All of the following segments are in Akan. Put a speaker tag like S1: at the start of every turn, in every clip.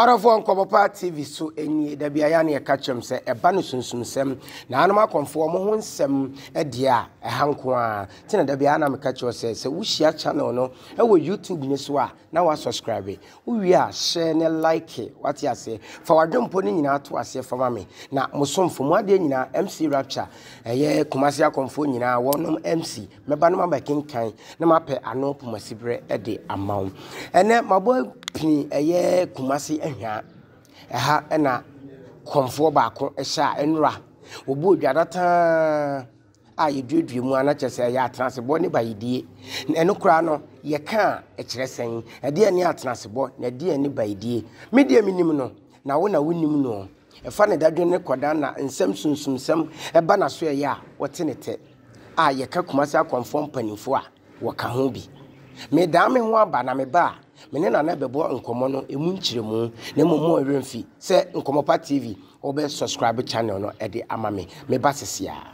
S1: ɔdɔfoɔ nkɔmmɔpa tv so nie da biara ne ɛka kyerɛm sɛ ɛba no sunsumsɛm na anom akɔmfoɔ mo ho nsɛm deɛ a ɛha nko a nti na da biara na meka kyerɛ sɛ sɛ wohyia channel no ɛwɔ youtube ne so a na wa subscribe wo wie a hyɛ ne like wate aseɛ fa wadwempo no nyinaa to aseɛ fa ma me na mo somfo mo adeɛ nyinaa mc rapture ɛyɛ kumase akɔmfoɔ nyinaa wɔnom mc mɛba no maba kenkan na mapɛ ano pomasiberɛ de ama wo ɛnɛ mabɔ pini ɛyɛ kumase ahwaa ɛha ɛna kɔmfoɔ baako ɛhyɛ a ɛnora wɔbɔ odwadataa a yɛduadua mu a na kyerɛ sɛ ɛyɛ atenasebɔ ne bayedie. Na ɛno koraa no, yɛka a ɛkyerɛ sɛn? Ɛdeɛ ne atenasebɔ na ɛdeɛ ne bayedie? Me deɛ menim no, na wo na wonim no. Ɛfa ne dadwene ne kɔdaa na nsɛm sunsumsɛm ɛba n'aso ɛyɛ a, ɔte ne tɛ. A yɛka Kumasi Akɔmfoɔ mpanimfoɔ a. wɔka ho bi. Medan me ho aba na meba a, me ne Nana bɛbɔ nkɔmmɔ no emu nkyerɛmu, na mmom mo werɛ mfi sɛ Nkɔmmɔpa TV wɔbɛ subscribe channel no de ama me. Meba sesiaa.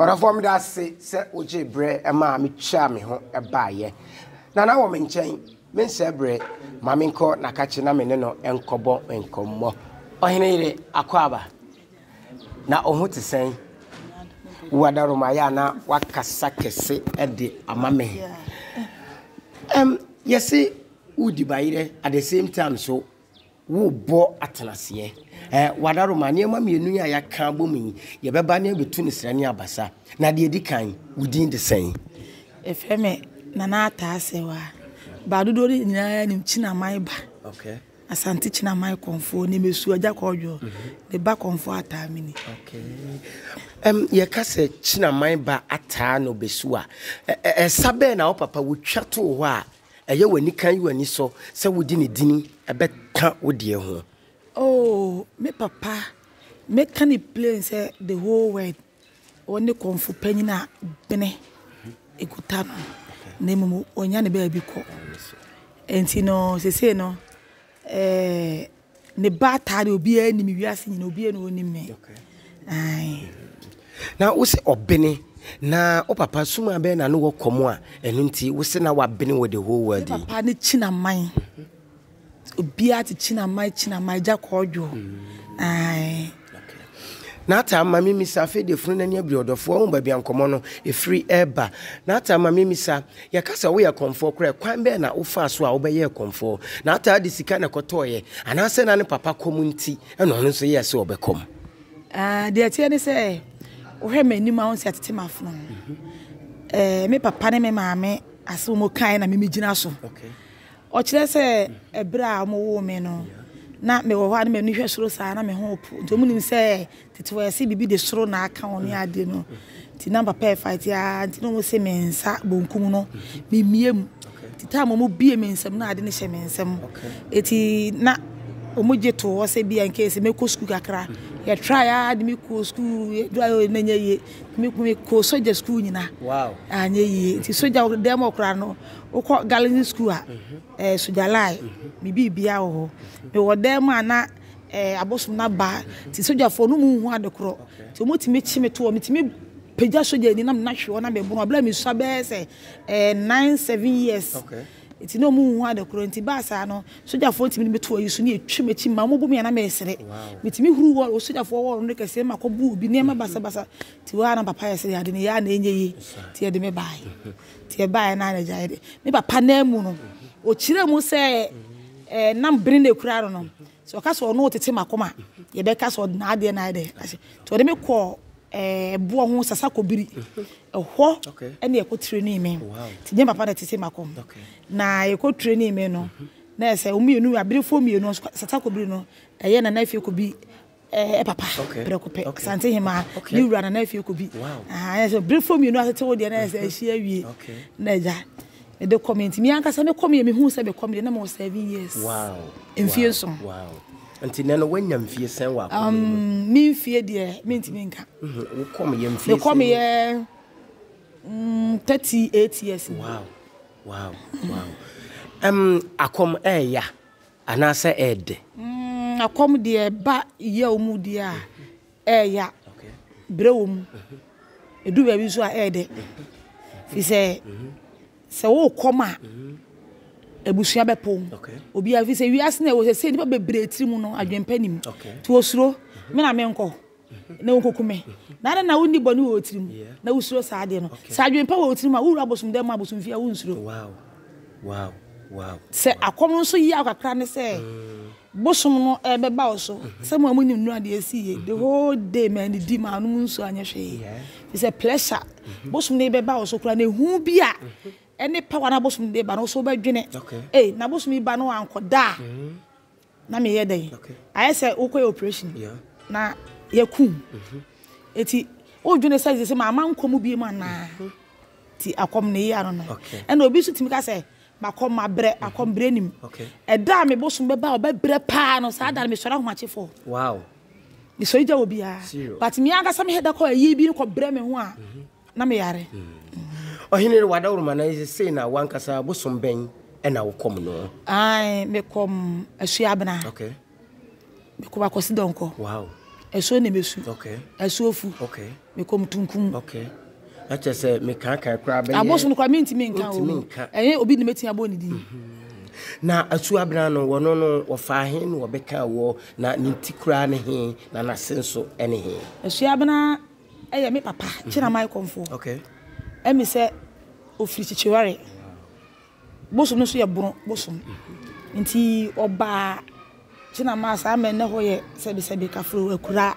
S1: ɔdɔfoɔ meda ase sɛ wogye berɛ ɛma a metwaa me ho ɛbaeɛ na na wɔ me nkyɛn menhyɛ berɛ ma menkɔ nakakye na me ne no nkɔbɔ nkɔmmɔ ɔhene yere akwaaba na ɔho te sɛn wadaromayɛ a na wakasa kɛse ɛde ama me um, yɛse wodi bayerɛ at the same time so worebɔ atenaseɛ. Ɛɛ wadaroma, nneɛma mmienu yi a yɛaka abɔ mu yi, yɛbɛba na yɛbɛtu no srɛ ne abasa. Na deɛ ɛdi kan, wo din de sɛn? Yɛfrɛ me
S2: Nana Ataa Sɛwa. Baa dodoɔ no nyinaa nim Kyinaman ba. Okay. Asante
S1: Kyinaman
S2: kɔnfoɔ ne mɛsu agya kɔɔdwoɔ. Mm-hmm. Ne ba kɔnfoɔ ataa mini. Okay.
S1: Um, yɛka sɛ Kyinaman ba ataa no bɛsu a, ɛsa bɛɛ na wo papa wotwa too hɔ a ɛyɛ wo anikan yi w'anisɔ sɛ wode ne din bɛka wo deɛ ho? Oh
S2: me papa mɛka ne plain sɛ the whole world ɔne kɔmfo panyin a bene ɛkuta no na mmom ɔnya ne baabi kɔ nti no sesei no eh, Ne ba taa de obiara nim me wiase nyina obiara na onim me ae. Na
S1: wo se ɔbene na wo papa sum abɛn na ne wɔ kɔm a ɛno nti wo se na wabene wɔ the whole world yi. Papa ne kyina man
S2: obiara te kyina man kyina man gya kɔɔdwo ae.
S1: N'ataa ma me misa afei deɛ funu n'ani abiri ɔdɔfoɔ wohu baabi a nkɔmmɔ no ɛfiri reba N'ataa ma me misa yɛka sɛ woyɛ kɔmfoɔ koraa kwan bɛn na wofaa so a wobɛyɛɛ kɔmfoɔ N'ataa de sika na ɛkɔtɔeɛ anaasɛ na ne papa kɔm nti na ɔno nso yɛɛ sɛ ɔbɛkɔm Ah deɛ
S2: ɛteɛ ne sɛ wohwɛ m'anim a wohu sɛ yɛatete m'afono ho Eh me papa ne me maame asɛm a wɔkaeɛ na me megyina so
S1: Ɔkyerɛ
S2: sɛ bere a wɔwoo me no, na mewɔ hɔ a na m'ani hwɛ soro saa, na me ho repo. Nti wɔn nim sɛ tete wɔ ɛse biribi de soro na aka wɔn ne ade no. Nti na papa ɛfight a, nti na wɔn se me nsa bonkum no me mmie mu. Nti time wɔn bie me nsam na ade no hyɛ me nsam. Nti na wɔn gye to hɔ sɛ bia nke sɛ mɛkɔ sukuu kakra. Yɛ try a de me kɔ sukuu, dura yɛ na nyɛ yie. Me kɔ sogya sukuu nyina. Wow. Anyɛ
S1: yie. Nti
S2: sogya dɛm ɔkora no. Wokɔ Galilee Sukuu a, ɛɛ Sogyalai, me biribia wɔ hɔ. Mewɔ dan mu a na ɛɛ abosom no aba nti sogyafoɔ no wɔn nhu ade korɔ nti wɔtumi kye me to hɔ. Metumi pagya sogyani na me nan hwe hɔ na meboro. Berɛ a mesua bɛyɛ sɛ ɛɛ nine seven years nti na
S1: wɔn nhu
S2: ade korɔ nti baa saa no sogyafoɔ tumi de me to ayi so na yɛtwa m'akyi ma wɔbu me a na mesere. Metumi huru wall sogyafoɔ wall no kɛseɛ ma kɔbu obi nneɛma basabasa nti hɔ a na papa yɛ sɛ ade no yɛ a na ɛnyɛ yie nti yɛde me baeɛ. Nti ɛbaeɛ no ara na agyaeɛ de me papa no amu no, ɔkyerɛɛ mu sɛ ɛɛ nam bene na ɛkura no no, sɛ ɔka sɛ ɔno ɔtete m'akoma, yɛbɛka sɛ ɔde n'adeɛ no ayɛ dɛ ahyɛ. Nti ɔde me kɔɔ ɛɛ boɔ ho sasa kɔbiri. Ɛhɔ ɛne ɛkɔ training me. Nti nyɛ me papa na ɛtete m'akoma. Na ɛkɔ training me no, na ɛsɛ wɔn mmienu, aberefoɔ mmienu, sasa kɔbiri no, ɛyɛ Nana Afie Kobi. Eh, papa, okay. prɛko pɛ. Okay. Sante Hemaa, okay. ne wura na na afie kɔ bi. Wow. Ah, yɛ sɛ berefo mmienu atete wo deɛ na yɛ sɛ ahyia awie. Okay. Na agya, mede kɔ me nti, me ankasa me kɔ me me hu sɛ me kɔ me deɛ na mewɔ seven years. Wow. Mfie wow. nson. Wow. Nti nɛ
S1: no wanya mfie sɛn wɔ akɔm mu? Um, me mfie
S2: deɛ mentumi nka. Mhm. Wo kɔ me yɛ
S1: mfie sɛn? Me kɔ me yɛ
S2: mm, 38 years. Wow. Wow.
S1: Wow. Um, akɔm ɛɛya. Eh, Anaasɛ ɛyɛ dɛ? Ɛkɔm
S2: deɛ ɛba yaw mu deɛ a, ɛyɛ ya. Brɛ wɔ mu. Ɛduru baabi nso a, ɛyɛ dɛ. Firi sɛ, sɛ worekɔm a, abusua bɛpo wo. Obiara, firi sɛ wiase no a yɛwɔ seesei, nnipa bebree tirim no, adwempa nni mu. Nti wɔsuro. Me na menkɔ. na wokoku me, na adɛn na wonni bɔne wɔ wo tirim na wusuro saa adeɛ no? Sɛ adwene pa wɔ wo tirim a, wowura abosom dɛm mu abosomfie a, wonsuro.
S1: Sɛ
S2: akɔm no nso yaw kakra ne sɛ bosom no ɛrebɛba wo so. Sɛ mo a monim nnora deɛ ɛsiiɛ, the whole day mannidi, mannom nsuo, anyɛ hwee, ɛfiri sɛ pressure bosom no rebɛba wo so koraa, na ehu bi a ɛne power no a bosom no de ba no, wo nso wobɛdwene, ei, na bosom yi ba na wankɔda a, na meyɛ dɛn ayɛ sɛ wokɔyɛ operation na yɛkum mhm. eti wodwene sɛ sɛ maama nkɔ mu biem anaa mhm. ti akɔm ne yia no no ɛna obi nso tumi ka sɛ makɔm mabrɛ mhm. akɔm brɛ nim ɛda a me bosom bɛba a ɔbɛbrɛ paa no saa da no mesɔre ahomakyefoɔ mesɔre gya wɔ biara but me ankasa mehɛda kɔ ayie bi no kɔbrɛ me ho a mm -hmm. na meyare. Hmm. Ɔhene
S1: no wadawuruma na ɛsɛ sei na wankasa bosom bɛn ɛna wokɔm no. Ae mekɔm
S2: asuo abena. Okay. Mekɔm akɔsi dɔnkɔ. Wow. Asuo ne mesu. Okay. Asuo fu. Okay. Mekɔm tunkum. Okay. Ɛkyɛ sɛ mekaakaa koraa bɛyɛ. Abosom koraa mentumi nka o. Mentumi nka. Ɛyɛ obi ne mɛtumi abɔ ne din. Mhm. Na
S1: asuo abena no wɔno no wɔfaa he na wɔbɛka wɔ na ne ti koraa ne he na n'ase nso ne he. Asuo abena
S2: Ɛyɛ me papa Kyena Michael Mfo Ɛmi sɛ ɔfiri Kyekyeware bosom no nso yɛ Bono bosom nti ɔbaa Kyena maa saa mɛ nnɛ hɔ yɛ sɛbi sɛbi Kafro akuraa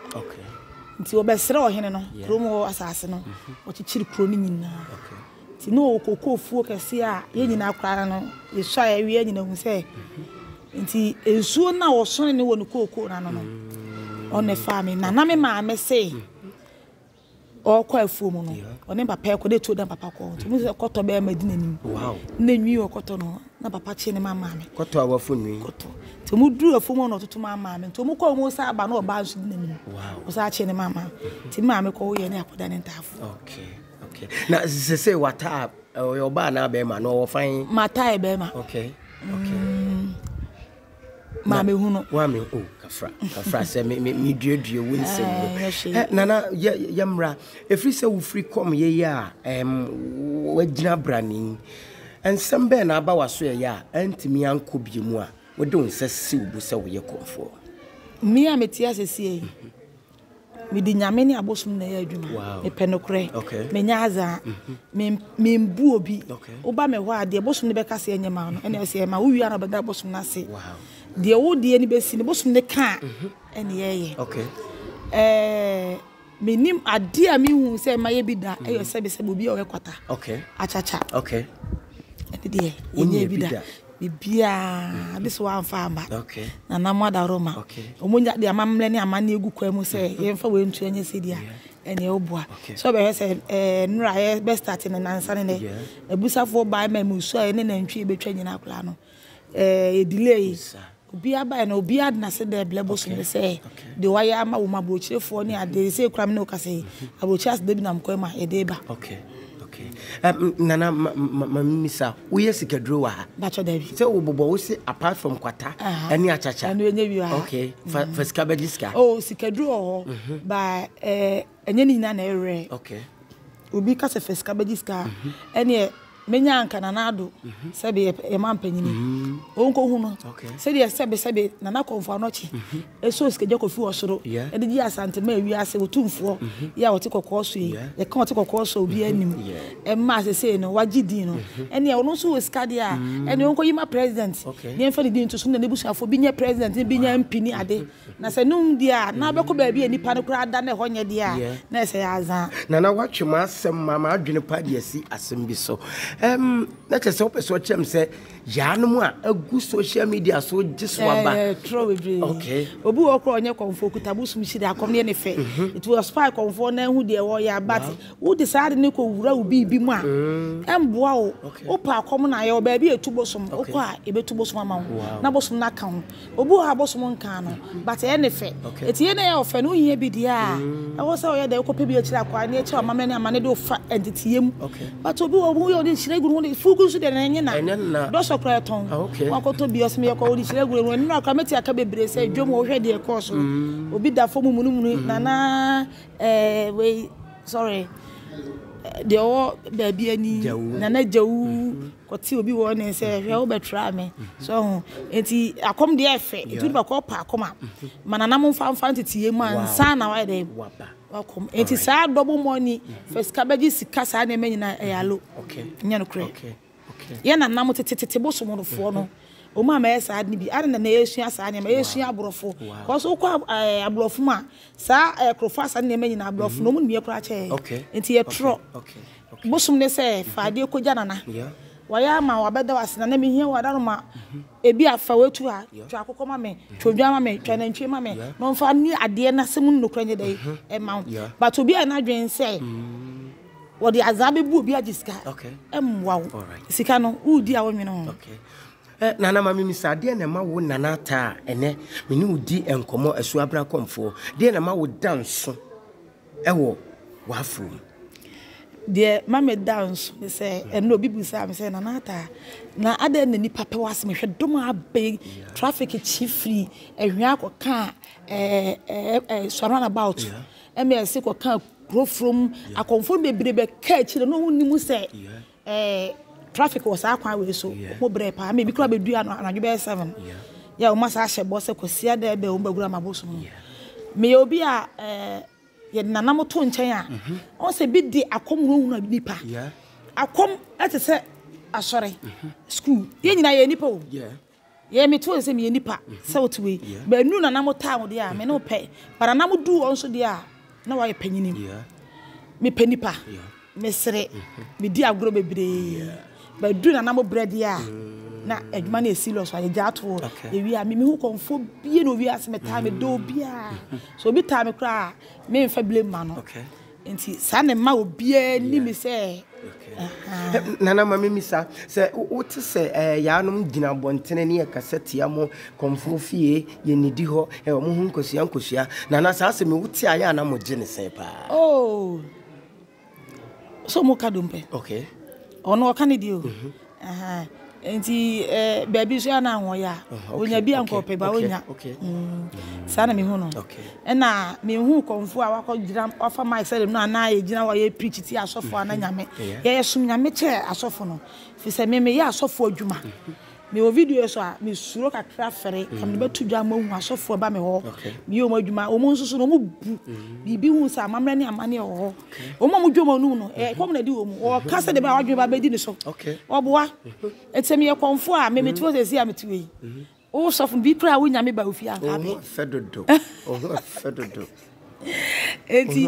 S2: nti ɔbɛsrɛ ɔhene no kurom hɔ asaase no ɔkyekyere kuro no nyinaa. Nti na ɔkɔkɔ ofuo kɛseɛ a yɛn nyinaa koraa no yɛsua a yɛwie nyina hu sɛ nti nsuo no a wɔsɔne no wɔ ne kookoo no ano no ɔne faa me na na me maame se ɔkɔ afuo mu no ɔne papa ɛkɔ de tuo na papa kɔ nti mu sɛ kɔtɔ bɛyɛ ma di n'anim na nwi wɔ kɔtɔ no na papa kye ne ma maame kɔtɔ a wafo nwi
S1: kɔtɔ nti mu duru
S2: afuo mu na ɔtoto ma maame nti mu kɔ mu sa aba na ɔba nso di n'anim ɔsa kye ne ma maame nti maame kɔ yɛ ne akɔda ne ntaafo okay Okay.
S1: Na sese wata ɔyɛ ɔbaa na bɛrima na ɔwɔ fan. Mata yɛ bɛrima. Okay.
S2: Okay. Mm. Maame hu no. Wa me o oh, kafra
S1: kafra sɛ me me me duadua wo nsɛm mu. Eh, eh, nana yɛ yɛ mmra efiri sɛ wofiri kɔm yɛ yɛ a ɛm wagyina brani nsɛm bɛɛ na aba waso yɛ yɛ a ɛntumi ankɔ bie mu a wode wo nsa si wo bo sɛ woyɛ kɔmfoɔ. Mmea a
S2: mete asesie yi. Mm -hmm. Mede Nyame ne abosom na ɛyɛ adwuma. Mepɛ nokorɛ. Menyɛ adza. Membu obi. Woba me hɔ a, deɛ bosom no bɛka sɛ ɛnyɛ ma wo no, ɛneɛ sɛ ɛma wo wie a na wobɛda bosom no ase. Deɛ wo deɛ no bɛsi no, bosom no ka a, ɛneɛ ɛyɛ. Menim adeɛ a menhuu sɛ mayɛ bi da yɛ sɛbesɛbe obi a ɔyɛ kwata, akyakya. Ɛno deɛ, menyɛɛ bi da. biribiara de sɛ wamfa aba Nana mo adaworoma wɔn de amammerɛ ne amanneɛ egu kwan mu sɛ yɛmfa wei ntu ɛnyɛ sɛdeɛ ɛne ɛboa sɛ ɔbɛhwɛ sɛ ɛɛ nnora a yɛbɛ start no nansa ne nɛ abusafoɔ baa ma mu su a ɛne nantwie bɛtwa nyinaa koraa no ɛɛ yɛ delay Obiara baeɛ no, obiara de n'ase da Ɛberɛ bosom no sɛ deɛ wayɛ ama wɔn aburokyerefoɔ ne adeɛ. Seesei koraa me ne wo kasa yi, aburokyire aseda bi nam kwan mu a yɛde reba. Okay, okay. Um, Nana,
S1: ma, ma, ma mimisa, woyɛ sikaduro wɔ ha? Bakyɛ dabi. Sɛ
S2: wobobɔ wo se
S1: apart from kwata uh-huh. ne akyakya. Ɛno ɛnyɛ bi wɔ ha. Okay,
S2: fa, mm. fa sika bɛgye
S1: sika. Oh, sikaduro wɔ hɔ.
S2: Mm-hmm. Ba, eh, Ɛnyɛ ne nyinaa na ɛyɛ rare. Okay. Obi ka sɛ fɛ sika bɛgye sika a, ɛneɛ mɛnya anka Nana Addo sɛbe yɛ yɛ man panyin yi. Ɔnkɔhu no. Okay. Sɛdeɛ sɛbe sɛbe Nana Kɔmfo Anokye ɛsɔɔ sikagya kɔfiri ɔsoro Yeah. de gyee Asante maa wiase otumfoɔ yi a ɔte kɔkɔɔ so yi. Yeah. Yɛka ɔte kɔkɔɔ so a obiara nim. Yeah. Ɛma sesei no wagye din no. Ɛneɛ ɔno nso wɔ sika deɛ a, ɛneɛ ɔnkɔyi ma President Okay. ne yɛmfa ne din nto so na n'abusuafoɔ bi nyɛ President ne bi nyɛ MP ne ade. Na sɛ no nnwu deɛ a, na wobɛkɔ baabi a nnipa no koraa da na ɛhɔ nyɛ deɛ a, na ɛsɛ yɛ
S1: adza. Nana
S2: woatwe
S1: m'asɛm ma m'adwene pa de asi asɛm bi so. Ɛm, na kyerɛ sɛ wopɛ sɛ ɔkyerɛ me sɛ yaanom a agu social media so gye so aba. Ɛɛ, trɔ bebree. Okay.
S2: Obi wɔ hɔ koraa ɔnyɛ kɔmfoɔ, ɔkuta bosom hyire, akɔm yɛ ne fɛ. Mhm. Nti wɔ spy kɔmfoɔ na ahu deɛ wɔyɛ a, but wode saa ade no kɔ wura wo biribi mu a, mm. ɛmboa wo. Okay. Wopɛ akɔm na ayɛ wɔ baabi a ɛtu bosom, wokɔ a ɛbɛtu bosom ama wo, na bosom no aka ho. Obi wɔ hɔ a bosom nkaa no but ɛyɛ ne fɛ nti yei na ɛyɛ ɔfɛ no wohia bi deɛ a ɛwɔ sɛ woyɛ dɛ wokɔpɛ bi akyiri akwaa ne akyiri amammerɛ ne amane de wofa ɛnteteyɛ mu but obi wɔ hɔ woyɛ wode hyira gu no wode fugu nso deɛ na ɛnye na dɔsɔ koraa ɛtɔn wakɔtɔ bi ɔsɛ meyɛkɔ wode hyira gu no ɛnora koraa mɛti aka bebree sɛ dwom wɔ wohwɛ deɛ ɛkɔɔ so obi da fam munumunu nana ɛɛ wei sorry deɛ ɔwɔ baabi ani nana gyawu kɔte obi wɔ ne nsɛ hwɛ wobɛtra me so ho enti akɔm deɛ ɛfɛ nti wode bɛkɔ pa akɔm a ma nanam mfa mfa nteteyɛ mu ansa na wayɛ dɛ wakɔm enti saa double money fɛ sika bɛgye sika saa nneɛma nyinaa ɛyɛ alo nyɛ no korɛ yɛ nanam tetetete bosomorofoɔ no wɔn a mɛyɛ saa de bi ade na na yɛsua saa nneɛma yɛsua aborɔfo kɔso wokɔ ɛɛ aborɔfo mu a saa ɛɛ korofo asa nneɛma nyinaa aborɔfo na wɔn nim yɛ koraa kyɛ enti yɛtorɔ Bosom ne sɛ fa adeɛ kɔgya nana wayɛ ama wo abɛda wo ase nana mehia wo adaroma ebi a fa watu ha twa akokɔ ma me twa odwan ma me twa nantwie ma me na ɔmfa ni adeɛ na sɛ mu nnokora nyɛ dɛ ɛma wo but obi a n'adwene sɛ wɔde azaa bɛbu obi agye sika ɛmmoa wo sika no wodi a wonwene ho eh, nana
S1: ma memisa adeɛ na ɛma wo nana ataa ɛnɛ mene wodi nkɔmmɔ asuabra kɔmfoɔ deɛ na ɛma wo da nso wɔ w'afow mu.
S2: Deɛ ma me da nso ne sɛ, ɛnna obi bisaa me sɛ, Nana Ataa, na adɛn na nnipa pɛ w'asɛm? Mehwɛ dom a abɛ yi, traffic kyi firi Ɛhwea kɔka Sua runabout, MS kɔka Kurofurom, akɔmfoɔ bebree bɛka akyire no, na wɔnnim sɛ. Ɛɛ traffic wɔ saa kwan wei so ɔmo brɛ paa ama ebi koraa bɛ dua no anadwo bɛyɛ seven yɛ ɔmo asan ahyɛ bɔ sɛ kwasiada ɛbɛn ɔmo bɛ wura m'abosom no me yɛ obi a ɛɛ yɛde nanam to nkyɛn a ɔn sɛ bi de akɔm wura wura nipa akɔm ɛte sɛ asɔre school yɛ nyinaa yɛ nipa o. Yɛ me too sɛ meyɛ nipa sɛ wote wei baanu na na mo taa wo deɛ a me ne wo pɛ but na na mo du wɔn so deɛ a na wɔayɛ panyini me pɛ nipa me sere me di agorɔ bebree but du na na mo brɛ deɛ a na adwuma no yɛ serious a yɛgya ato yɛwie a me mehu kɔmfo bie na owie ase me taa me dɔ obi a so obi taa me koraa me nfa blame ma no Nti saa na ɛma obiara ni me sɛ ahaa.
S1: Nana ma memmisa, sɛ wote sɛ yaanom gyina abɔntene ne yɛkasa tia mo kɔmfoɔ fie, yɛnnidi hɔ, wɔn ho nkosua nkosua, Nana saa asɛm yi wote a yɛ a na mogye no sɛn paa? Oo,
S2: sɛ wɔka dompe, okay, ɔno ɔka ne deɛ o. Nti baabi nso a na ho yɛ a, onya bi a nka ɔpɛ ba onya. Mm. Saa na mehu no. Ɛna mehu kɔmfo a wakɔgyina wafa mic sɛ no anaa yɛgyina hɔ yɛ preach ti asɔfo ana mm-hmm. nyame. Yɛyɛ som nyame kyɛ asɔfo no. Fi sɛ me meyɛ asɔfo adwuma. Mm-hmm. Me wɔ video so a me suro kakra fɛre. Mm-hmm. Ɛmɛ bɛto dwa ma ohun asɔfo ɛba me hɔ. Me yɛ wɔn adwuma. Wɔn nso so na wɔn bu. Biribi hu sɛ amammerɛ ne amane ɛwɔ hɔ. Wɔn a wɔdwa wɔn anum no, ɛkɔm na ɛde wɔn. Wɔka sɛdeɛ ɛbɛyɛ a w'adwene ba bɛdi ne so. Wɔboa. Ɛti sɛ meyɛ kɔmfoɔ a, me mete hɔ sɛsi a mete hɔ yi. Wo sɔfo no, bi koraa a wonya me ba wo fie a, anka abɛn. Wo ho fɛ dodo. Wo
S1: ho fɛ dodo.
S2: Ɛti,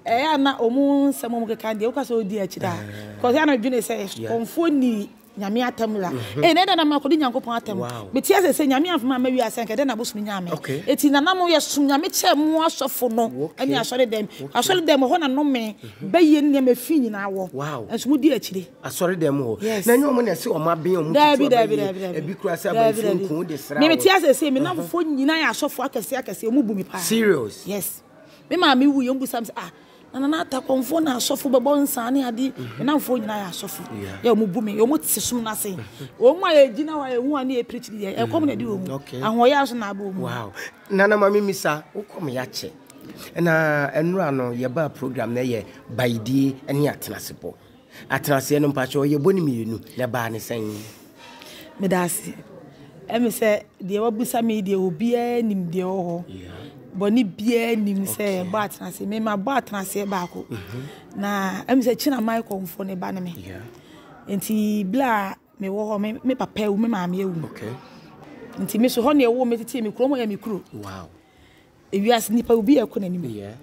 S2: ɛyɛ a na wɔn nsɛm a wɔkeka no deɛ, woka sɛ wodi akyire a. Because ɛyɛ a na medwene sɛ kɔmfoɔ ni. Nyame atam la ei na ɛdɛn na makɔdi Nyankopɔn atam mete ase sɛ Nyame amfama amma wiase anka ɛdɛn na abosom nyaa me eti nana mo yɛ som Nyame kyɛ mo asɔfo no ɛne asɔre dɛm asɔre dɛm ɛhɔ na nome bɛyɛ nneɛma efi nyinaa wɔ ɛnso mo di akyire asɔre dɛm hɔ
S1: na ɛnyɛ ɔmo na ɛse ɔmo aben ɔmo tutu abɛyɛ ebi kura sɛ aban firi nko de sra me mete ase sɛ me namfofoɔ
S2: nyinaa yɛ asɔfo akɛse akɛse ɔmo bu me paa serious yes
S1: me
S2: maame wu yɛ ɔmo bisa me sɛ ah. Na Nana Atakomfo na asɔfo bɛbɔ nsa ne ade. Me namfo nyinaa yɛ asɔfo. Yɛ wɔn bu me. Wɔn te som no ase. Wɔn a yɛgyina hɔ a yɛhu wɔn ne yɛpirikyi no deɛ, ɛkɔm na ɛde wɔn. Ahoɔyɛ nso na abɔ wɔn. Wow. Nana ma
S1: memisa, wo kɔm yɛakyɛ. Na nnora no yɛbaa program no yɛ Baidie ne Atenasepɔ. Atenaseɛ no mpakyɛw ɔyɛ bone mmienu na ɛbaa no sɛn? Medase.
S2: Ɛme sɛ deɛ wabusa me yi deɛ obiara nim deɛ ɛwɔ hɔ. Bɔne biara nim sɛ yɛbɔ atenaseɛ. Me mabɔ atenaseɛ baako. Mhm. Na ɛme sɛ China Maikɔmfoɔ ne ba ne me. Nti bla mewɔ hɔ me papa awu me maame awu. Nti me so hɔ ne ɛwɔ me tete me kurom yɛ me kuro. Wow. Ewiase nipa obi yɛ kɔ n'anim.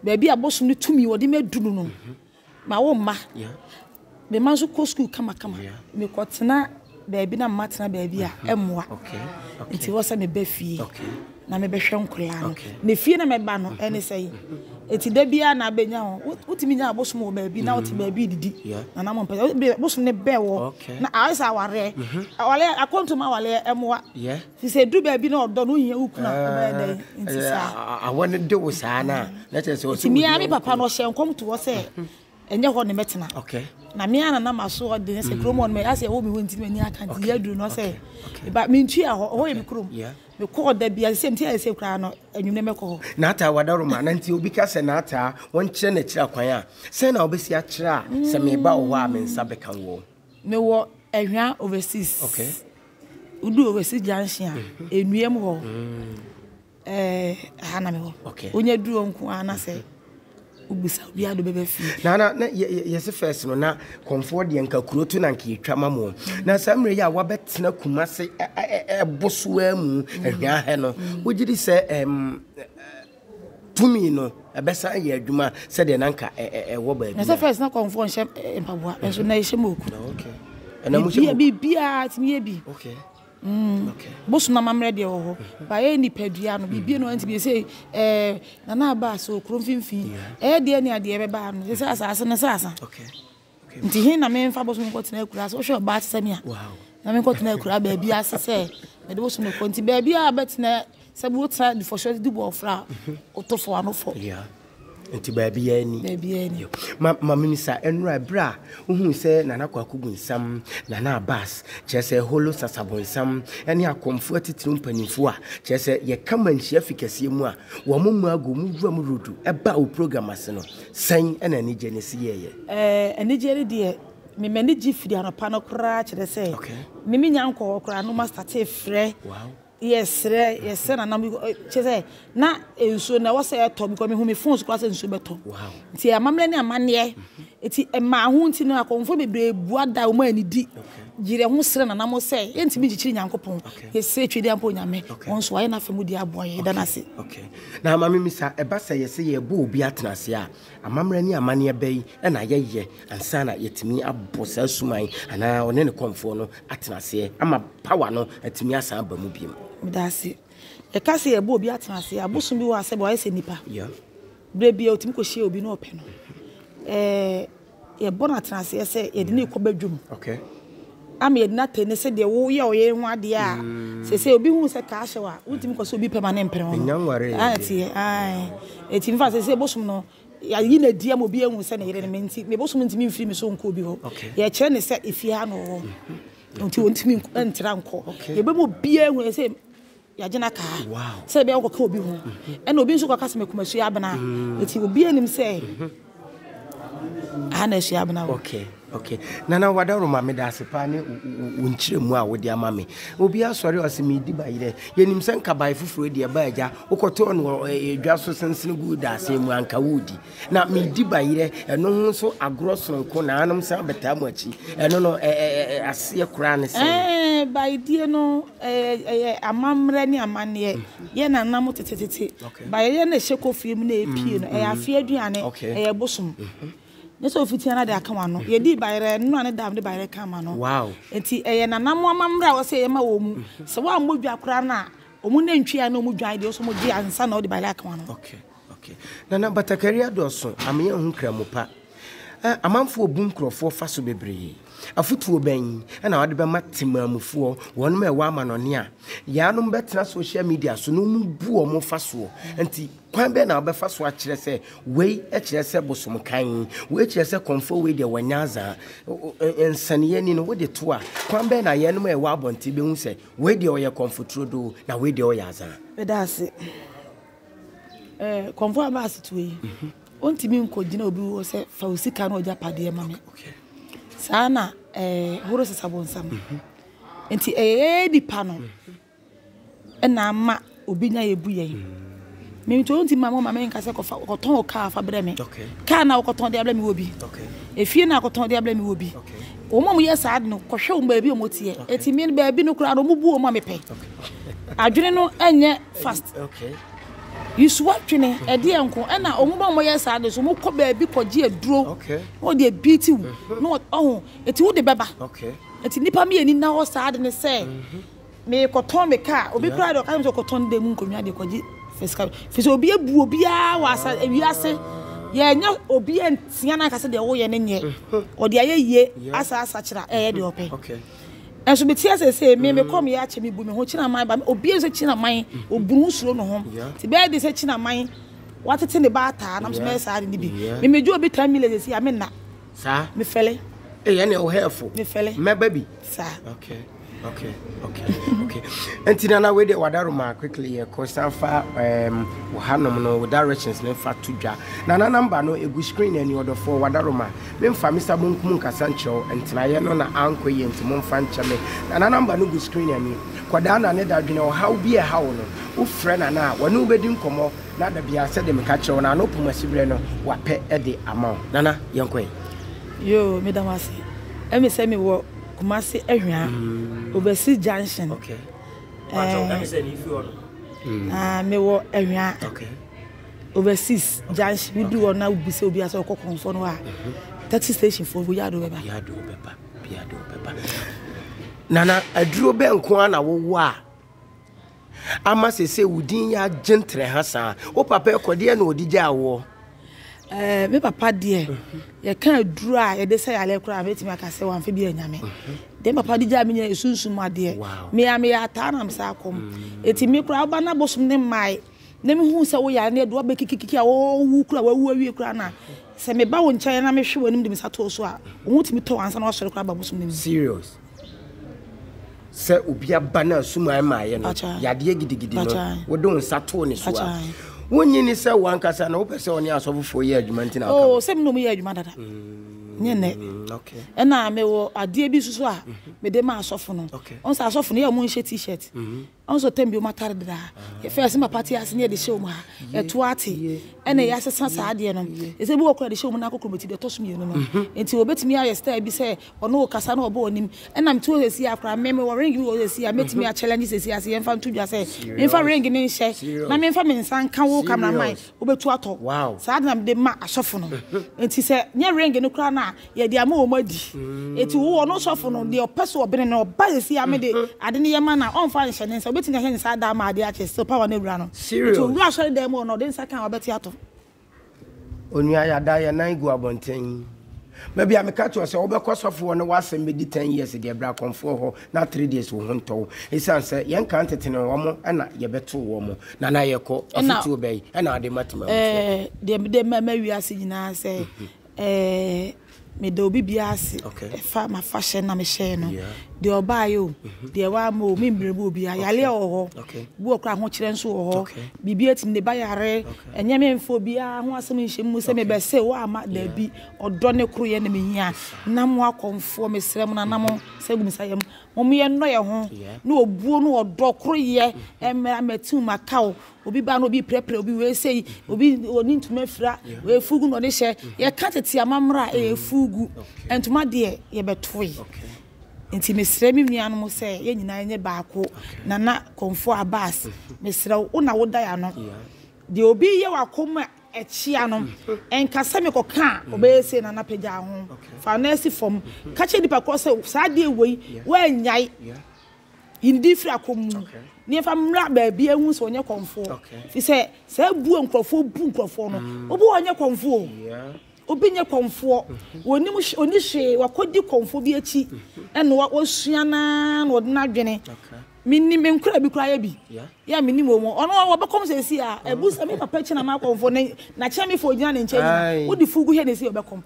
S2: Baabi a bosom no tumi wɔde me aduru no. Mhm. Ma wo mma. Me mma nso kɔ sukuu kamakama. Mekɔtena baabi na mma tena baabi a, ɛmmoa. Nti ɛwɔ sɛ meba fie na mebɛhwɛ nkwadaa no. Na fie na mɛba no, ɛne sɛ yi. Nti da biara na abɛnya hɔ. Wotumi nya abosom wɔ baabi na wote baabi redidi na na mompɛ sɛ. Bosom no bɛn hɔ na ayɛ sɛ awareɛ. Awareɛ, akwantuom awareɛ, ɛmmoa. Nti sɛ edu baabi na ɔdɔ no ohia wo kunu a, wobɛyɛ dɛn? Nti Ɛɛ, saa. a- a- awɔ no de wo saa
S1: no a na kyerɛ sɛ ɔsɛ Nti me ara me papa no ɔhyɛɛ
S2: nkɔm to hɔ sɛ ɛnyɛ hɔ na mɛtena. okay Na me ara na na m'aso ɔden sɛ kurom hɔ no mɛ asɛ ɛwɔ me hɔ nti na m'ani aka nti Okay, yɛ aduru no ɔsɛ okay, okay. meba mentua hɔ ɛhɔ yɛ me kurom. yeah. Mekɔɔ da bi a sɛ mti ayɛ sɛ koraa no anwummerɛ mɛkɔ hɔ. n'ataa wadaroma
S1: na nti obi ka sɛ n'ataa wɔnkyerɛ n'akyiri akwan a sɛn na wobɛsi akyerɛ a sɛ meba wo hɔ a me nsa bɛka woɔ Mewɔ
S2: Ɛhwa overseas. Okay. Wodu Owɛsi junction a, Enuam hɔ, ɛɛ ha na mewɔ. Okay. Wonya duru hɔ nko ara na sɛ wobisa obi ade bɛbɛ fie. Na na na
S1: yɛsi first no na kɔnfoɔ deɛ nka kuro to na nka yɛtwa ma mo. Mm. Na saa mmerɛ yi a wabɛtena kuma se ɛbosoa mu ɛhwɛ mm. ahɛ no, mm. wogye di sɛ ɛm. Um, tumi no ɛbɛsan ayɛ adwuma sɛdeɛ na nka ɛwɔ baabi na sɛ fɛs na kɔmfoɔ nhyɛ
S2: mpaboa ɛso na ɛhyɛ mu oku biribiaa tumi yɛ bi bosom na mammerɛ deɛ wɔ hɔ baɛ nipadua no biribie no antumi ɛsɛ nana aba sɛ okuro mfimfini ɛyɛ deɛ ne adeɛ bɛbaa no sɛ sɛ asaase no sɛ asa Nti he na memfa bosom no nkɔtena akuraa ase? Wohwɛ ɔbaa te sɛ me a, na menkɔtena akuraa baabi ase sɛ mede bosom no kɔ. Nti baabi a bɛtena sɛ wotena dufɔhyɛ ase di bɔ ɔfra a, woto fo ano fɔ. Nti
S1: baabi a ni. Baabi a ni. Ma ma minisa ɛnura ɛberɛ a wohuu sɛ Nana Kwaku Bonsam, Nana Abbas, kyerɛ sɛ Holo Sasa Bonsam ne akɔmfo atitiriw mpanyimfo a kyerɛ sɛ yɛka manhyia fi kɛseɛ mu a wɔn mu agu mu wuram rodu ɛbaa wo program ase no. Sɛn na anigye no si yɛ yɛ? Ɛɛ, anigye no
S2: deɛ, me m'ani gye firi anɔpa no koraa, kyerɛ sɛ, me me nya nkɔɔ hɔ koraa no, ma start frɛ, yɛ srɛ, yɛ srɛ nana mo, kyerɛ sɛ, na nsuo no ɛwɔ sɛ ɛtɔ, because me hu me phone so koraa sɛ nsuo bɛtɔ, nti amammerɛ ne amaneɛ, nti ɛmaa ho nti no, akɔmfoɔ bebree bua da, wɔn anidi, yerɛ ho srɛ nana mo sɛ, yɛntumi nkyekyere Nyankopɔn, yɛ srɛ Twedeɛ ampa Onyame, wɔn nso wɔayɛ na afɛ mu deɛ aboa yɛn, yɛda no ase. Na ma mimmisa,
S1: ɛba sɛ yɛse yɛrebɔ obi atenase a, amammerɛ ne amanneɛ bɛn na yɛyɛ ansa na yɛatumi abɔ saa suman anaa ɔne ne kɔmfoɔ no atenaseɛ ama power no atumi asan aba mu biom? Medase.
S2: Yɛka sɛ yɛrebɔ obi atenase a, bosom bi wɔ ha sɛdeɛ wayɛ sɛ nipa. Yeah. Berɛ biara ɔtumi kɔhyia obi na ɔpɛ no. Ɛɛ Yɛbɔ no atenaseɛ sɛ yɛde no rekɔ badwam ama yɛde no atɛn ne sɛdeɛ woyɛ ɔyɛ ho adeɛ a sɛsɛ obi hu sɛ kaa hyɛw a wontumi kɔ sɛ obi pɛ ma ne mpere ho no ɛteɛ ae ɛti mfa sɛsɛ bosom no yɛyi no adi ama obi ahu sɛ ne yere no me nti me bosom ntumi mfiri me so nkɔ obi hɔ yɛkyerɛ ne sɛ efie ha na ɔwɔ nti ɔntumi ntra nkɔ yɛbɛmu obiara hu sɛ Yɛagye no aka ha sɛ ebia wokɔka obi ho, ɛnna obi nso kɔka sɛ mekum Asuabena. Enti obiara nim sɛ aha na Asuabena wɔ. Okay, okay. Nana
S1: Wadaroma, meda ase paa ne wo nkyerɛmu a wode ama me. Obi asɔre ɔse medi bayerɛ. Yɛnim sɛ nka bae foforɔ deɛ ɛba agya wokɔtɔɔ no dwa so sensene guu daasee mu anka wodi. Na meredi bayerɛ, ɛno ho nso agorɔ soronko na anom san bɛtaa mo akyi. Ɛno no, aseɛ koraa ne sɛn? Ɛɛ, bayedie no,
S2: ɛyɛ amammerɛ ne amanneɛ. Mm-hmm. Yɛ na nam tetetete. Bayerɛ na ɛhyɛ kofie mu na ɛpie no, ɛyɛ mm-hmm. afeɛ aduane, ɛyɛ bosom. Mm-hmm. ne sɛ ofi tia no de aka wano yɛdii bayerɛ nnora ne dam de bayerɛ ka ma no nti ɛyɛ nanam amammerɛ a wɔsɛ yɛma wɔ mu sɛ woammɔ dwa koraa no a ɔmu nantwi a na ɔmu dwan deɛ ɔsɛ ɔmɔgye ansa na ɔde bayerɛ aka wano okay. Ok. Nana
S1: batakari adɔɔso, ameyɛ nho Kramopa. Eh, amanfoɔ bu nkurɔfoɔ fa so bebree. Afotuo bɛn na wode bɛma temaamufoɔ, wɔnom a ɛwɔ amanɔne a yaanom bɛtena social media so na wɔn bu wɔn fa soɔ nti kwan bɛn na wobɛfa so akyerɛ sɛ wei kyerɛ sɛ bosom kan, wei kyerɛ sɛ kɔmfoɔ wei deɛ wɔanya azaa, nsɛneɛ ni no wode to a kwan bɛn na yɛnom a ɛwɔ abɔnten bɛhu sɛ wei deɛ ɔyɛ kɔmfo turodoo na wei deɛ ɔyɛ azaa. Meda ase.
S2: Eh, kɔmfo aba asetuo yi, ontumi nkɔgyina obi wɔ sɛ fa wo sika no ɔgya padeɛ ma me. Saa na eh, horo sesa bonsam. Nti ɛyɛ nipa no ɛna ama obi nya yɛ bu yɛn. Mimi to ontumi ma mo ma me nka sɛ kɔfa kɔtɔn o kaa fa brɛ me. Kaa na wokɔtɔn de abrɛ me wɔ bi. Efie na akɔtɔn de abrɛ me wɔ bi. Wɔn a wɔyɛ saa no kɔhwɛ wɔn baabi a wɔteɛ. Eti me baabi no koraa no wɔn bu wɔn a mepɛ. Adwene no nyɛ fast. Yesu adwene ɛdeɛ nko ɛna ɔmo ba ɔmo yɛ saa de so ɔmo kɔ baabi kɔ gye aduro na ɔde abiiti
S3: wo
S2: na ɔho eti wo de bɛba eti nipa
S3: mi yɛ ni
S2: na hɔ saa de ne sɛ me kɔ tɔn me kaa obi kura de ɔka sɛ ɔkɔ tɔn de mu nkonwa de kɔ gye fisika fisɛ obi ebu obi a wɔ asa ewi ase yɛ nyɛ obi ntia na kasa de ɔwɔ yɛ ne nyɛ ɔde ayɛ yie asa asa kyerɛ ɛyɛ de ɔpɛ.
S3: Nso mete
S2: ase se, me, me kɔm yɛ akyɛ, mebu me ho, Kyenaman ba, obie sɛ Kyenaman, obunu nsuro ne ho, te bɛyɛ de sɛ Kyenaman watete ne ba ataa, nam so mɛyɛ saa ade ne bi. Me, megye obi 10 million sɛsi a, me nna. Saa? Me fɛle. Ei, ɛne ɛwo hɛɛfo.
S3: Me fɛle. Mɛba bi.
S2: Saa.
S3: Okay. Okay, okay, okay. Nti na na wei de wada roma quickly yɛ kɔ san fa um wo hanom no wo directions ne fa to dwa. Na na number no egu screen ani ɔdɔfoɔ wada roma. Memfa me sa bonkum nkasa nkyerɛ wo, ntenaeɛ no na ankɔ yie nti momfa nkyɛ me. Nana number no gu screen ani. Kɔdaa Nane da dwene ɔhaw bi a ɛha wo no. Wofrɛ Nana a, wɔne wo bɛdi nkɔmmɔ na da biara sɛdeɛ meka kyerɛ wo no Nana ɔpom asiberɛ no wapɛ de ama wo. Nana, yɛnkɔ ɛ. Yoo, meda
S2: mo ase. Ɛme sɛ me wɔ Kumasi Ahwea, Obasi junction. Okay.
S3: Ɛɛ. Ɛme sɛ me firi
S2: hɔ nom. Ɛɛ, me wɔ Ahwea. Okay.
S3: Overseas
S2: junction wo du hɔ na wo bisa obi asɛ ɔkɔ kɔnfɔ no a taxi station fo wo yado bɛba. Yado bɛba yado
S3: bɛba. Nana aduro bɛ nko ara na wowɔ a ama sɛ sɛ wo din yɛ agye ntere ha saa wo papa ɛkɔ deɛ na ɔde gyaa woɔ. Eh,
S2: me papa deɛ yɛka aduro a yɛde sɛ yɛalɛ koraa mɛtumi aka sɛ wamfa bi anyame deɛ papa de gyaa me nyɛ ɛsunsum adeɛ mea meyɛ ataa nam saa kɔm ɛti mm. me koraa woba no abosom ne mmae na mehuu sɛ wo yare no adu abɛ kikikiki a wɔwu kura wɔawu awie kura na sɛ meba wo nkyɛn na mehwe w'anim de me nsa too so a wo ho tumi tɔ ansa na wasɔre kura babosom no mu. Serious.
S3: Sɛ obi aba na suman maayɛ no yadeɛ gidigidi no wode wo nsa too ne so a wonyi ne sɛ wankasa na wopɛ sɛ ɔne asɔfofoɔ yɛ adwuma nti na ɔka. Oh, sɛ me na ɔmo yɛ adwuma
S2: dada. Mm. nyɛ nnɛ
S3: mm, ɛna
S2: mewɔ adeɛ bi soso a mm-hmm. mede ma asɔfo no ɔn sɛ asɔfo no yɛ ɔmo nhyɛ t-shirt mm-hmm. Ɔno so tɛm bi wɔn atare dedaa. Yɛ first ne papa te ase ne yɛde hyɛ wɔn ha. Ɛto ate. Ɛna yɛ asesa saa adeɛ no. Ɛsɛ bi wɔ kora yɛde hyɛ wɔn nan kɔ kurobɛti deɛ ɛtɔ so mmienu no. Nti wɔbɛtumi ayɛ style bi sɛ ɔne wo kasa na ɔbɔ w'anim. Ɛna mete hɔ sɛsi a kora me me wɔ ring bi wɔ hɔ sɛsi a mɛtumi a challenge sɛsi a sɛ yɛmfa nto dwa sɛ menfa ring ne nhyɛ na menfa me nsa nka wo camera man. wobɛtu atɔ. Saa ade na mede ma asɔfo no. Enti sɛ nyɛ ring no koraa no a, yɛde ama wɔn adi. Enti wo, ɔno sɔfo no, deɛ ɔpɛ so ɔbene no, ɔba yɛn fie a, mede ade no yɛ ma no a, ɔmfa nhyɛ ne nsa. Ɔbɛtumi ahyɛ ne nsa ada ama adeɛ akyɛ, still power no awura no. Enti ɔwura asɔredan mu hɔ no, ɔde ne nsa ka a, wɔbɛte atɔ.
S3: Onua, yɛada yɛn nan gu abɔnten. Baabi a meka kyerɛ wo sɛ wobɛkɔ sɔfo hɔ na w'asɛm bɛdi ten years deɛ, bra Kɔmfoɔ hɔ. na three days wo ho ntɔ wo ɛsiane sɛ yɛn nkaa ntetene wɔn ɛna yɛbɛtoo wɔn na na yɛkɔ afutuo bɛyi ɛna ade ma tema mufoɔ deɛ mede ma ma
S2: wiase nyinaa sɛ ɛɛ meda obi bia ase ɛfa ma fa hyɛ na mehyɛɛ no deɛ ɔbaayɛ o deɛ waama o membrɛ bu obi ayale wɔ hɔ bi wɔ kora ahokyerɛ nso wɔ hɔ biribi atumi de ba yare ɛnyɛ memfo biara ho asɛm nhyɛ mu sɛ mebɛse wo ama daabi ɔdɔ ne koroyɛ na mehia na mo akɔmfoɔ mesrɛ mo na na mo Sɛ gu me nsa yam. Mom yɛ nnɔ yɛ ho ne obuo ne ɔdɔ koro yɛ mmra ma team ma ka o obi ba no obi prɛprɛ obi wei sei obi oni ntoma fira wei fugu na ɔde hyɛ yɛ ka tete amamra e eh, fugu ntoma deɛ yɛ bɛtoe nti mesrɛ me nuanom sɛ yɛ nyinaa nyɛ baako nana kɔmfo abas mesrɛ wo na woda ya no deɛ obi yɛ wakoma Ɛkyea no, nka sɛ mekɔka a, ɔbɛyɛ sei na na pagya ho, fa wo nan si fam, ka kyerɛ nipa korɔ sɛ saa adeɛ wei woannyae, yi ne din firi akɔm mu na yɛmfa mmra baabi ahu sɛ ɔnyɛ kɔmfoɔ, firi sɛ saa bu a nkorɔfoɔ bu nkorɔfoɔ no, obi wɔ hɔ ɔnyɛ kɔmfoɔ o, obi nyɛ kɔmfoɔ, ɔnnim hwee, ɔnni hwee, wakɔdi kɔmfoɔ bi akyi na wasua no ara na ɔde n'adwene. Menim nkoraa bi koraa yɛ bi yɛ menim wɔn mu ɔno ɔbɛkɔm sɛsi a ɛbu sɛ me papa kyina ma akɔmfo ne na kyɛn me fo gyina ne nkyɛn nyina wode fugu hɛ ne si ɔbɛkɔm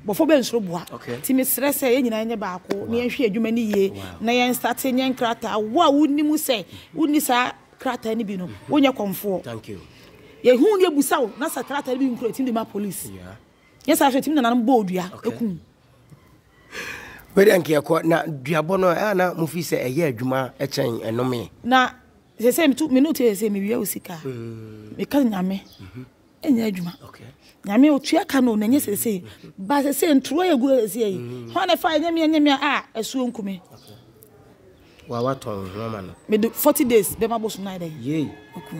S2: bɔfo bɛ nsoro boa ti me srɛ sɛ yɛ nyina nyɛ baako ne yɛnhwɛ adwuma ne yie na yɛn state nyɛ nkrataa wo a wonim sɛ wonni saa krataa ne bi no wonyɛ kɔmfoɔ yɛ hu ne abusa wo na sɛ krataa ne bi nkura tim de ma police nyɛ saa so tim nananom bɔ odua ekum
S3: Wei deɛ nka yɛkɔ na duabɔ no ɛa na mo fi sɛ ɛyɛ adwuma kyɛn ɛnome. Na
S2: sese metu me note sese me wia osika. Mm. Me ka nyame. Mhm. Enya adwuma. Okay. Nyame otua ka no na nye sese. Ba sese ntro egu sese yi. Ho na fa enye me enye me a asuo nkume. Okay. Wa
S3: wa
S2: tɔn ho ama no. Me de
S3: forty
S2: days bɛ ma
S3: bosom na
S2: yɛ dɛ.
S3: Yei.
S2: Oku.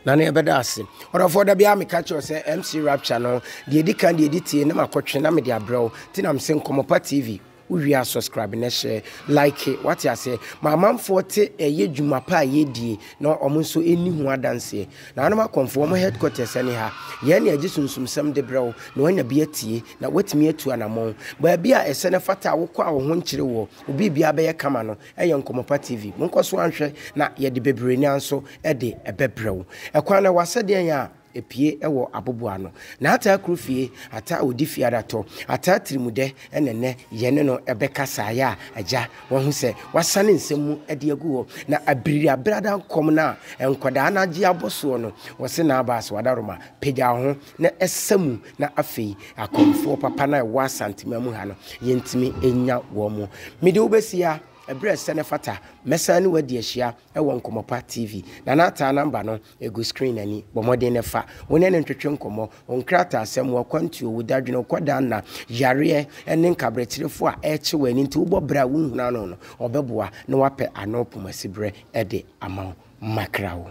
S1: Na ne yɛ bɛ da ase. Ɔdɔfoɔ da bi a me ka kyerɛ sɛ MC Rapture no deɛ edi kan deɛ edi tie na ma kɔtwe na me de abrɛw. Ti na me se Nkɔmɔpa TV wo wie a subscribe na hyɛ like wate aseɛ ma amanfoɔ te ɛyɛ dwuma pa a yɛ die na ɔmo nso ɛni ho adanseɛ. Nanom akɔmfoɔ ɔmo headquarters ɛne ha. Yɛn ne agye sunsumsɛm de brɛw na wanya bi atie. Na woatumi atu anammɔn. Baabi a ɛsɛ na ɛfata a wokɔ a wo ho nkyere woɔ, wo biribiara bɛyɛ kama no yɛ Nkɔmmɔpa TV. Monkɔ so nhwɛ na yɛde bebree nanso de ɛbɛbrɛ wo. Ɛkwan no ɛwɔ asɛdeɛn a ɛpue wɔ aboboano. N'ataa kuro fie, ataa a ɔdi fie ara tɔ, ataa tirimudɛ na ɛnnɛ yɛne no bɛkasaeɛ a Agya wahu sɛ wasane nsɛm mu de agu hɔ. Na abiriabrada nkɔm no a nkwadaa no agye abɔ soɔ no, wɔse n'abaa so adaworoma. Pagya wo ho. na ɛsa mu na afei akɔmfoɔ papa no a ɛwɔ Asantema mu ha no, yɛntumi nya wɔn mu. Mede wo bɛsia, ɛberɛ ɛsɛ ne fata, mɛsan ne wadi ahyia ɛwɔ Nkɔmɔpa TV. Nana Ataa namba no ɛgu screen no ani, bɔ mmɔden na fa, wo ne no ntwetwe nkɔmmɔ, wo nkrataasɛm, wo akwantuo, wo dadwene, wo kɔdaanna, yareɛ, ɛne nkaberɛkyerefoɔ a ɛrekye w'ani nti wobɔ bra a wonhunu ano no, ɔbɛboa na wapɛ ano poma siberɛ de ama wo. Makra wo.